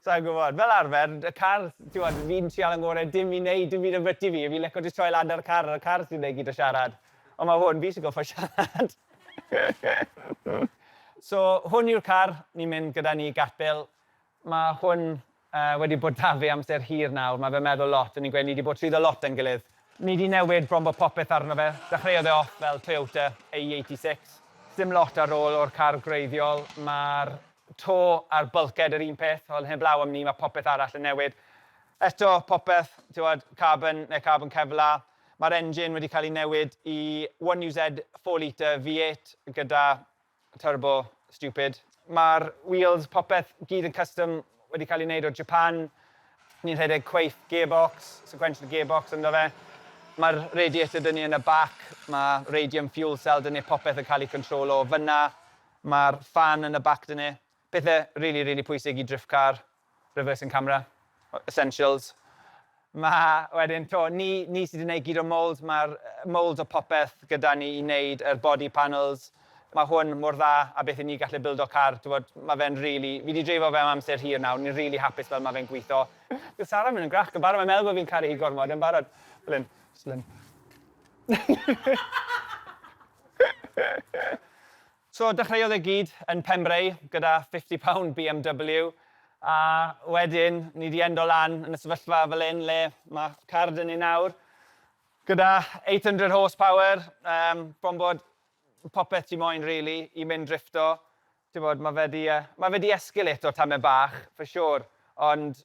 Sa i'n gwybod. Fel arfer, y car, timod, fi'n trial yn ngore dim i neud dim byd ambyty fi, fi'n lico jyst troi lan ar y car, y car sy'n neud gyd o siarad. Ond mae hwn, fi sy'n gorfod siarad. So, hwn yw'r car ni'n mynd gyda ni i gapel. Mae hwn wedi bod 'da fe amser hir nawr, mae fe'n meddwl lot, o'n i'n gweud ni 'di bod trwyddo lot da'n gilydd. Ni 'di newid bron bod popeth arno fe, dechreuodd e off fel Toyota AE86. Dim lot ar ôl o'r car gwreiddiol, mae'r to a'r bulkhead yr un peth, wel heblaw am ni mae popeth arall yn newid. Eto popeth, ti'mod, carbon neu carbon kevlar. Mae'r engine wedi cael ei newid i 1UZ 4 litre V8 gyda turbo stupid. Mae'r wheels, popeth, gyd yn custom wedi cael ei wneud o Japan. Ni'n rhedeg cweith gearbox, sequential gearbox ynddo fe. Mae'r radiator 'da ni yn y bac, mae radium fuel cell 'da ni, popeth yn cael ei controlo o fan'na. Mae'r fan yn y bac 'da ni. Pethe rili rili pwysig i drift car, reversing camera, essentials. Ma' wedyn 'to ni ni sy 'di neud gyd o'r mould, ma'r moulds a popeth gyda ni i neud yr body panels. Ma' hwn mor dda a beth i ni gallu bildo car t'wod ma' fe'n rili fi 'di dreifo fe am amser hir nawr ni'n rili hapus fel ma' fe'n gwitho. Dyw Sara ddim yn grac yn barod mae'n meddwl bo fi'n caru hi gormod yn barod. Fel 'yn. Jyst fel 'yn. So dechreuodd e gyd yn Pembrey gyda fifty pound BMW a wedyn ni di endo lan yn y sefyllfa fel hyn le ma' car da ni nawr gyda eight hundred horse power yym bron bod popeth ti moyn rili i mynd drifto t'bod ma' fe di yy ma' fe di escalate o tamaid bach for sure ond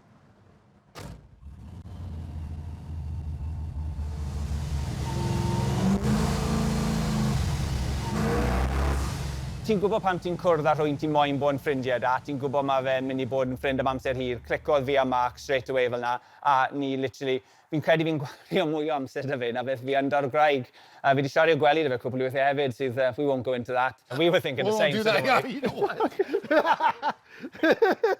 Ti'n gwybod pan ti'n cwrdd â rhywun ti moyn bod yn ffrindiau da, ti'n gwybod mae fe'n mynd i bod yn ffrind am amser hir, clicodd fi a Mark straight away fel 'na, a ni literally, fi'n credu fi'n gwario mwy o amser 'da fe na beth fi yn 'da'r gwraig, a fi 'di siarad i'r gwely 'da fe cwpl o weithiau hefyd sydd, we won't go into that, we were thinking the same sort of thing. We won't do that, yeah, you know what.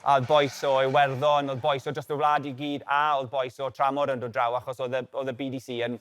A oedd bois o Iwerddon, oedd bois o drost y wlad i gyd, a oedd bois o Tramor yn dod draw achos oedd y, oedd y BDC yn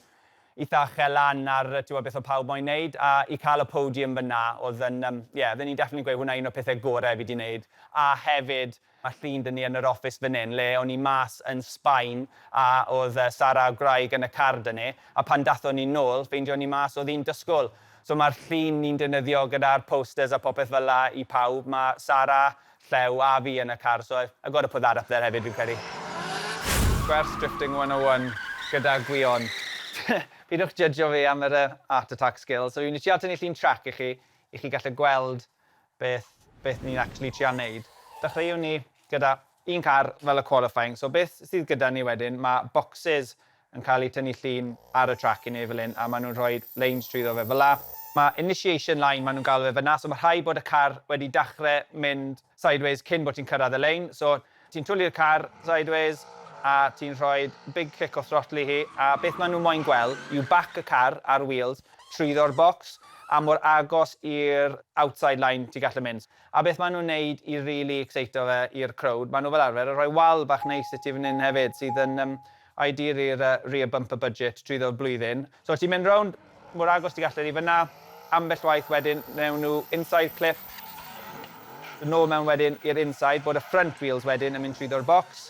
eitha uchel lan ar yy ti'bod beth oedd pawb moyn neud, a i cael y podium fynna oedd yn yym ie oedden ni'n definitely gweud hwnna un o'r pethe gore fi di neud, a hefyd ma' llun dŷ ni yn yr office fan hyn le o'n i mas yn Sbaen a oedd yy Sara a'r gwraig yn y car da ni, a pan dathon ni nôl ffeindion ni mas oedd hi'n dysgl. So ma'r llun ni'n defnyddio gyda'r posters a popeth fel'a i pawb ma' Sara Llew a fi yn y car so I've got to put that up there hefyd fi'n credu. Gwers Drifting 101 gyda Gwion. Pidwch jydgio fi am yr art attack skills. So fi'n trial tynnu llun trac i chi, i chi gallu gweld beth, beth ni'n actually trial neud. Dechreuwn ni gyda un car fel y qualifying. So beth sydd gyda ni wedyn, mae bocsys yn cael eu tynnu llun ar y trac i Neverlyn a maen nhw'n rhoi leins trwyddo fe fel 'na. Mae initiation line maen nhw'n galw fe fan'na, so mae rhaid bod y car wedi dachre mynd sideways cyn bod ti'n cyrraedd y lein, so ti'n twli'r car sideways a ti'n rhoi big kick o throttle i hi a beth maen nhw moyn gweld yw bac y car ar wheels trwyddo'r bocs a mor agos i'r outside line ti gallu mynd. A beth maen nhw'n neud i rili ecseito fe i'r crowd, maen nhw fel arfer yn rhoi wal bach neis i ti fan hyn hefyd sydd yn I diri'r rear bumper budget drwyddo'r flwyddyn. So os ti'n mynd rownd mor agos ti'n gallu i fan'na, ambell waith wedyn wnewn nhw inside clip, yn ôl mewn wedyn i'r inside, bod y front wheels wedyn yn mynd trwyddo'r bocs.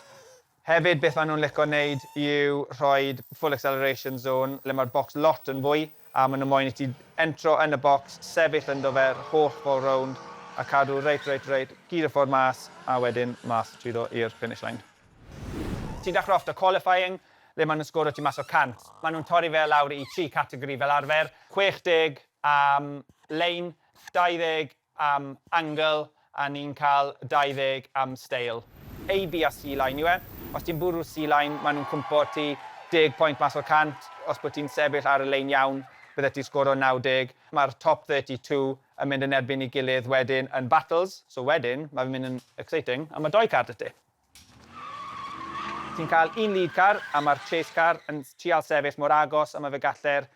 Hefyd beth maen nhw'n lico wneud yw rhoi full acceleration zone le mae'r bocs lot yn fwy a maen nhw moyn i ti entro yn y bocs, sefyll ynddo fe yr holl ffordd rownd a cadw reit, reit, reit, gyd y ffordd mas a wedyn mas trwyddo i'r finish line. Ti'n dechrau off 'da qualifying, le maen nhw'n sgoro ti mas o 100. Maen nhw'n torri fe lawr i tri categori fel arfer, 60 am lane, 20 am angle a ni'n cael 20 am steil. A, B a C line yw e. Os ti'n bwrw C line, maen nhw'n cwmpo ti deg pwynt mas o 100. Os bod ti'n sefyll ar y lein iawn, byddet ti'n sgoro 90. Mae'r top 32 yn mynd yn erbyn ei gilydd wedyn yn battles, so wedyn mae fe'n mynd yn exciting a mae dou car 'da ti. Ti'n cael un lead car a mae'r chase car yn trial sefyll mor agos a mae fe galler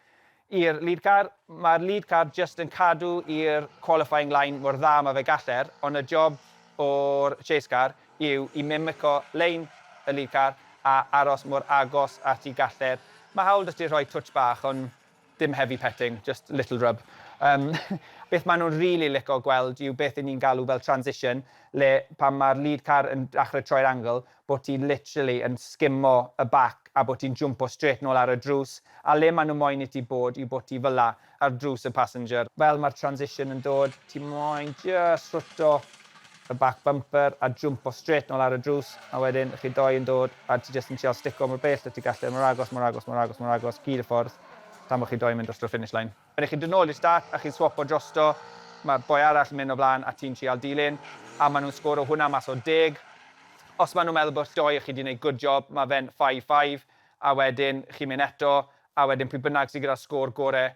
i'r lead car. Mae'r lead car jyst yn cadw i'r qualifying line mor dda mae fe galler, ond y job o'r chase car yw i mimico lein y lead car a aros mor agos at y galler. Mae hawl 'da ti rhoi twtsh bach, ond Dim heavy petting, just little rub. Yym, beth maen nhw'n rili lico gweld yw beth 'yn ni'n galw fel transition, le pan mae'r lead car yn dachre troi'r angle, bo' ti literally yn sgimo y bac a bo' ti'n jwmpo strêt nôl ar y drws, a le maen nhw moyn i ti bod yw bo' ti fel 'na, ar drws y passenger. Fel mae'r transition yn dod, ti moyn jyst rhuto y back bumper a jwmpo strêt nôl ar y drws a wedyn chi doi yn dod a ti jyst yn trial stico mor bell a ti gallu mor agos mor agos mor agos mor agos gyd y ffordd tan bod chi doi yn mynd drosto'r finish line. Wedyn chi'n dod nôl i'r start a chi'n swopo drosto, mae boi arall yn mynd o flaen a ti'n trial dilyn a maen nhw'n sgoro hwnna mas o deg. Os maen nhw'n meddwl bod doi o chi 'di wneud good job mae fe'n five five a wedyn chi'n mynd eto a wedyn pwy bynnag sydd gyda'r sgôr gorau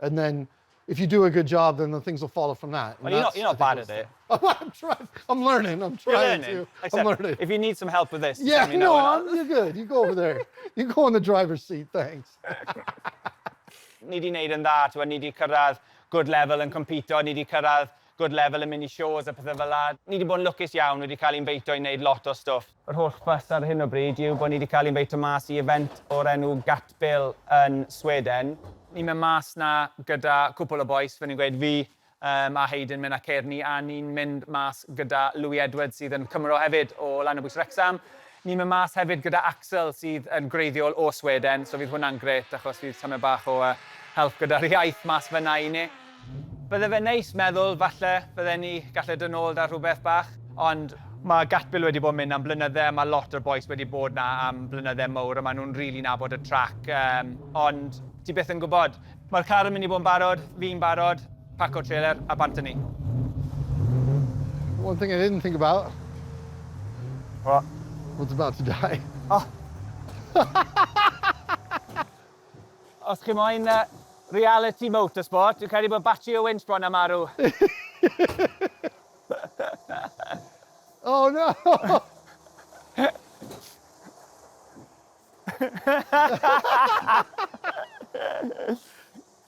and then if you do a good job, then the things will follow from that. Well, you're not, you're not bad at it. I'm trying. I'm learning. I'm trying you're learning. to. Except I'm learning. If you need some help with this, yeah, you know, no, you're good. You go over there. you go in the driver's seat. Thanks. ni di wneud yn dda, ti'n ni di cyrraedd good level yn compito, ni di cyrraedd good level yn mynd i shows a pethau fel la. Ni di bod yn lwcus iawn, wedi cael i'n feito i wneud lot o stwff. Yr holl fuss ar hyn o bryd yw bod ni wedi cael ein bwyta mas i event o'r enw Gatbil yn Sweden. Ni'n mynd mas 'na gyda cwpwl o bois, fel ni'n gweud, fi yym a Hayden mynd â Kearney a ni'n mynd mas gyda Louis Edwards sydd yn Cymro hefyd o Lanabwys Wrecsam. Ni'n mynd mas hefyd gyda Axel sydd yn gwreiddiol o Sweden, so fydd hwnna'n grêt achos fydd tamed bach o yy help gyda'r iaith mas fan'na i ni. Bydde fe'n neis meddwl falle bydden ni galle dod nôl 'da rhywbeth bach, ond ma' Gatbil wedi bod yn mynd am blynydde a ma' lot o'r bois wedi bod 'na am blynydde mowr a ma' nhw'n rili nabod y trac, yym, ond ti byth yn gwbod. Mae'r car yn mynd i bod yn barod, fi'n barod, paco treler a bant a ni. One thing I didn't think about. What? What's about to die. O! Os chi moyn yy reality motorsport, dwi'n credu bod batri y winch bron â marw. Oh no!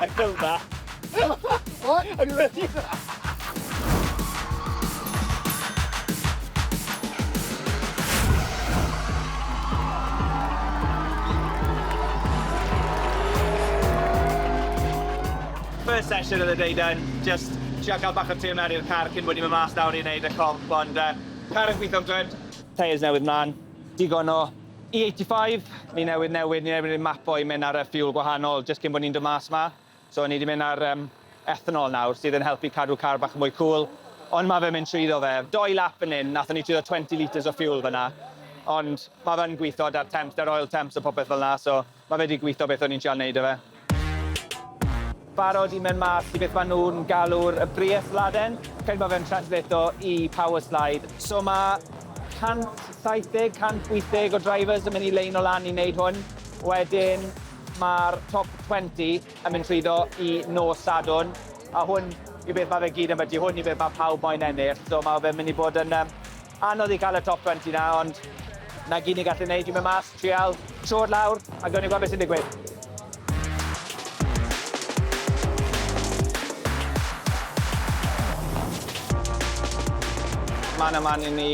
I feel that. What? Are you ready? First session of the day done, just trio cael bach o tune ar i'r car cyn bod ni'n mynd mas nawr i wneud y comp, ond yy, car yn gweithio'n grêt. Tyres newydd mlan, digon o E85, ni newydd newid, ni newydd neud map o'i mynd ar y ffiwl gwahanol jyst cyn bod ni'n dod mas ma. So ni wedi mynd ar um, ethanol nawr sydd yn helpu cadw car bach yn mwy cool. Ond mae fe'n mynd trwyddo fe. Doi lap yn un, nathon ni trwyddo 20 litres o ffiwl fyna. Ond mae fe'n gweithio da'r temps, da'r oil temps a popeth fel na, so Mae fe 'di gwitho beth o'n i'n trial neud 'da fe. Barod i mynd mas i beth ma' nhw'n galw'r y briesladen. Credu ma' fe'n translato i power slide. So ma' 170, 180 o drivers yn mynd i leino lan i neud hwn. Wedyn ma'r top twenty yn mynd trwyddo i nos Sadwrn, a hwn yw beth ma' fe gyd ambyti. Hwn yw beth ma' pawb moyn ennill. So ma' fe'n mynd i bod yn yym Anodd i cael y top twenty 'na, ond 'na gyd ni'n gallu neud yw mynd mas, trial, trod lawr, a gawn ni weld be sy'n digwydd. Man a man i ni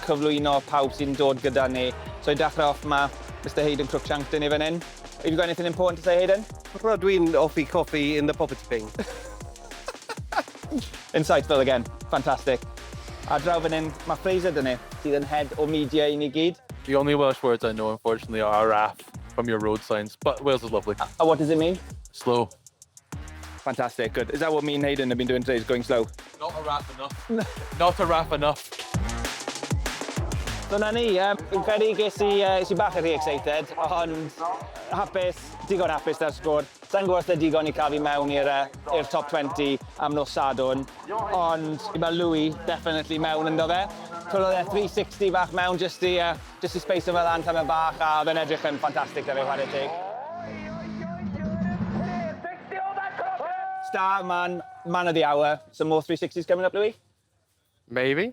cyflwyno pawb sy'n dod gyda ni. So i dachrau off ma' Mister Hayden Cruikshank 'da ni fan 'yn. Have you got anything important to say Hayden? Rydw i'n offi coffi in the poverty bin. Insightful again. Fantastic. Ar draw fan hyn, mae Fraser 'da ni, sydd yn head o media i ni gyd. The only Welsh words I know unfortunately are RAF from your road signs, but Wales is lovely. A what does it mean? Slow. Fantastic, good. Is that what me and Hayden have been doing today, is going slow? Not a RAF enough. Not a RAF enough. Dyna ni, yym, fi'n credu ges i, yy, es i bach yn rhy excited, ond hapus, digon hapus 'da'r sgôr. Sai'n gwybod os lle digon i cael fi mewn i'r yy i'r top twenty am nos Sadwrn, ond fi ma' Louis definitely mewn ynddo fe. Twriodd e three sixty fach mewn jyst i yy jyst i sbeisio fe lan tamed bach a o'dd e'n edrych yn ffantastic 'da fe chware teg. Star man, man of the hour, some more three sixties coming up Louis? Maybe.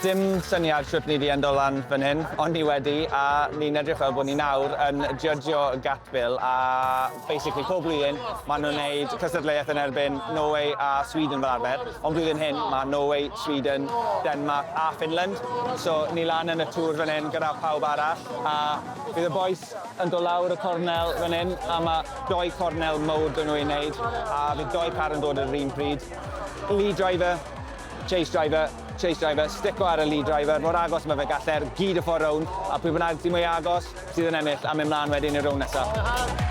Dim syniad shwt ni 'di endo lan fan hyn, ond ni wedi, a ni'n edrych fel bod ni nawr yn jydgio gap fill, a basically pob blwyddyn ma' nhw'n neud cystadleuaeth yn erbyn Norway a Sweden fel arfer, ond blwyddyn hyn ma' Norway, Sweden, Denmark a Finland, so ni lan yn y tŵr fan hyn gyda phawb arall, a bydd y bois yn dod lawr y cornel fan hyn, a ma' dou cornel mowr 'da nhw i neud, a bydd dou car yn dod ar yr un pryd, lead driver, chase driver, Chase driver, stico ar y lead driver mor agos mae fe gall er gyd y ffordd rownd a pwy bynnag sydd mwyaf agos sydd yn ennill a mynd mlaen wedyn i'r rownd nesaf.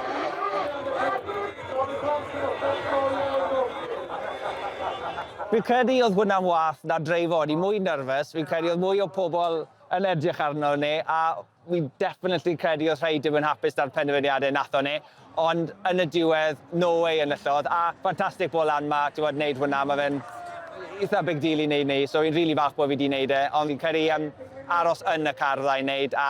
Fi'n credu oedd hwnna'n wath na dreifo, o'n i mwy nerfus, fi'n credu oedd mwy o pobl yn edrych arno ne a fi'n definitely credu oedd rhai dim yn hapus da'r penderfyniadau wnaethon ni, ond yn y diwedd, no way enillodd, a ffantastig bod lan ma, ti'n gwybod, wneud hwnna, mae fe'n eitha big deal i wneud ni, so fi'n rili falch bod fi wedi wneud e, ond fi'n credu yym aros yn y car fydda i'n wneud a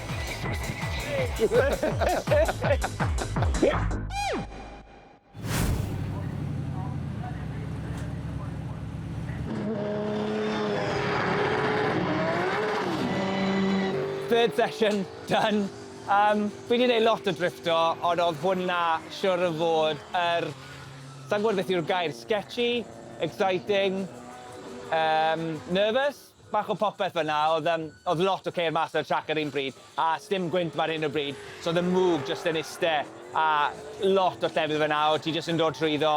Third session done. Yym fi 'di neud lot o drifftio ond o'dd hwnna siŵr o fod yr sai'n gwbod beth yw'r gair, sketchy? Exciting? Yym nervous? Bach o popeth fanna, oedd yym oedd lot o ceir mas ar y trac ar un pryd, a sdim gwynt fan hyn o bryd, so oedd y mwg jyst yn iste a lot o llefydd fanna o' ti jyst yn dod trwyddo,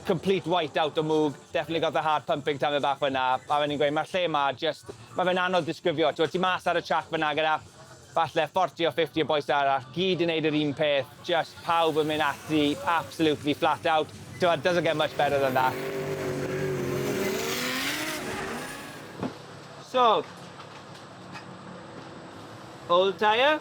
complete white out o mwg, definitely got the heart pumping tamed bach fanna, a o'n i'n gweud ma'r lle 'ma jyst, ma' fe'n anodd disgrifio, t'mod ti mas ar y trac fanna gyda Falle fforti o 50 o bois arall, gyd yn neud yr un peth, jyst pawb yn mynd ati absolutely flat out. T'mod, doesn't get much better than that. So, old tyre?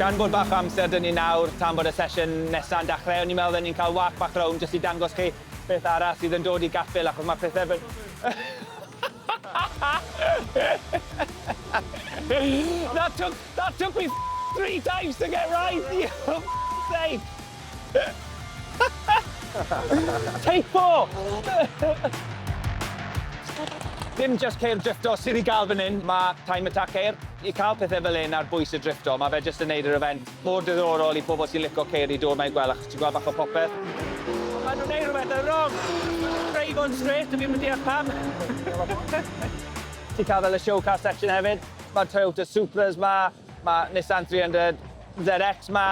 Gan bod bach o amser 'da ni nawr tan bod y sesiwn nesa'n dachrau, o'n i'n meddwl fydden ni'n cael walk bach rownd jyst i dangos chi beth arall sydd yn dod i Gaffel achos ma' pethe fel... That took that took me three times to get right! You sake! Teipo! Dim jyst ceir drifftio sydd i gael fan hyn, mae Time Attack ceir. I cael pethau fel hyn ar bwys y drifftio, mae fe jyst yn wneud yr event mor diddorol i pobl sy'n licio ceir i dod 'ma i gweld achos ti'n gweld bach o popeth. Maen nhw'n wneud rhywbeth yn wrong! Craig on straight, dw i'm yn deall pam! Ti'n cael fel y show car section hefyd. Mae'r Toyota Supras 'ma. Mae Nissan 300 ZX 'ma,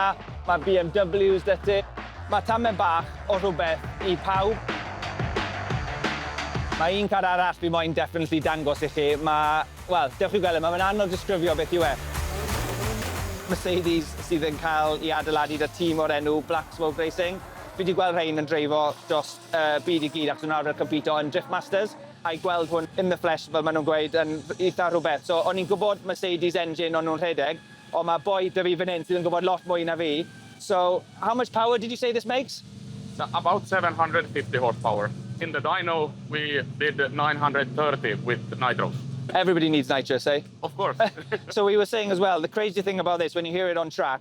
mae BMWs 'da ti. Mae tamed bach o rhywbeth i pawb. Mae un car arall fi moyn definitely dangos i chi, mae, wel, dewch i weld e, mae fe'n anodd disgrifio beth yw e. Mercedes sydd yn cael ei adeiladu 'da tîm o'r enw Black Smoke Racing. Fi 'di gweld rhein yn dreifo dros y byd i gyd achos o'n nhw arfer compîto yn Driftmasters. I gweld hwn in the flesh fel ma nhw'n gweud yn eitha rhywbeth. So o'n i'n gwybod Mercedes engine o'n nhw'n rhedeg, ond ma boi da fi fan hyn sydd yn gwybod lot mwy na fi. So, how much power did you say this makes? So about 750 horse power. In the dyno we did 930 with nitros. Everybody needs nitros, eh? Of course. So we were saying as well, the crazy thing about this when you hear it on track,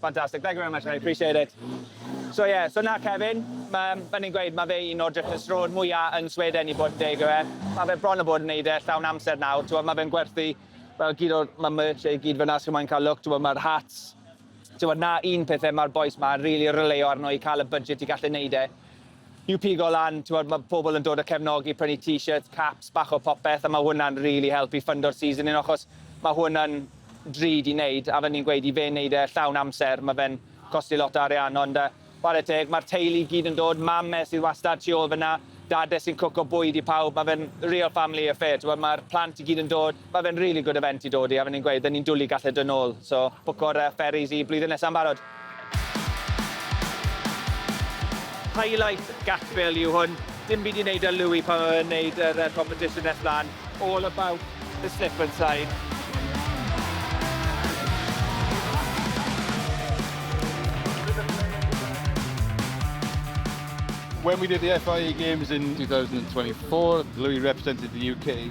Fantastic, thank you very much mate, appreciate it. So yeah, so na Kevin, mae, fel ni'n gweud, mae fe un o'r drychinstrôn mwyaf yn Sweden i bod yn deg o fe. Mae fe bron o bod yn neud e llawn amser nawr, ti'n mae fe'n gwerthu fel gyd o'r mae merch ei gyd fyna, sy'n moyn cael look, ti'n mae'r hats. Ti'n na un pethau mae'r boes ma, really releo arno i cael y budget i gallu neud e. I'w pigo lan, t'mod, ma' pobl yn dod a cefnogi, prynu t-shirts, caps, bach o popeth, a ma' hwnna'n rili helpu i ffyndo'r seasoning ochos ma' hwnna'n drud i neud, a fel ni'n gweud, i fe neud e llawn amser, ma' fe'n costi lot o arian, ond yy ware teg, ma'r teulu i gyd yn dod, mam e sydd wastad tu ôl fyn 'na, dad e sy'n cwco bwyd i pawb, ma' fe'n real family affair, t'mod, ma'r plant i gyd yn dod, Mae fe'n really good event i dod i a fe ni'n gweud 'da ni'n dwli gall e dod nôl so bwco'r yy ferries i blwyddyn nesa'n barod. Highlight Gatfill yw hwn. Dim byd i neud â Louis pan oedd e'n neud yr yy competition nes mlan. All about the slip and slide. When we did the FIA games in 2024, Louis represented the UK.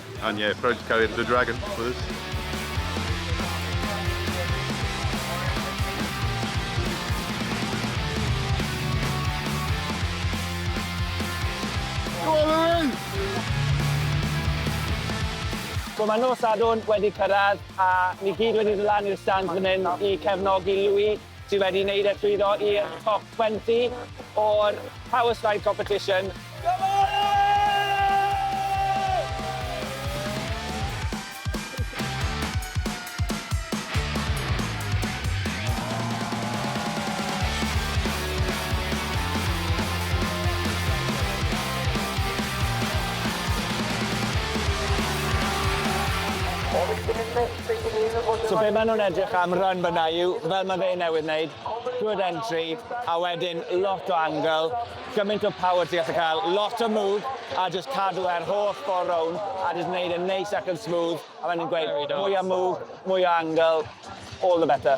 And yeah, proud to carry the dragon for this. So mae nos Sadwrn wedi cyrraedd a ni gyd wedi dod lan i'r stand fan hyn i cefnogi Louis. Ti wedi neud e llwyddo i'r top 20 o'r Power Slide Competition. Diolch! So be' ma' nw'n edrych am run fynna yw, fel ma' fe newydd neud, good entry, a wedyn lot o angle, gymaint o power ti gallu ca'l, lot o move, a jyst cadw e'r holl ffor rownd, a jyst neud e'n neis ac yn smooth, a fel o'n i'n gweud, mwy o move, mwy o angle, all the better.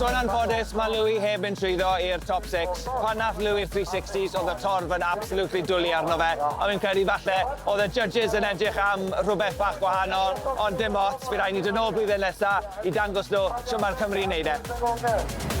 Sôn am ffodus, mae Louis heb mynd trwyddo i'r top six. Pan nath Louis'r three sixties oedd y torf yn absolutely dwli arno fe, ond fi'n credu falle oedd y judges yn edrych am rhywbeth bach gwahanol, ond dim ots. Bydd rhaid ni dod nôl blwyddyn nesa i dangos nhw shwt mae'r Cymry yn neud e.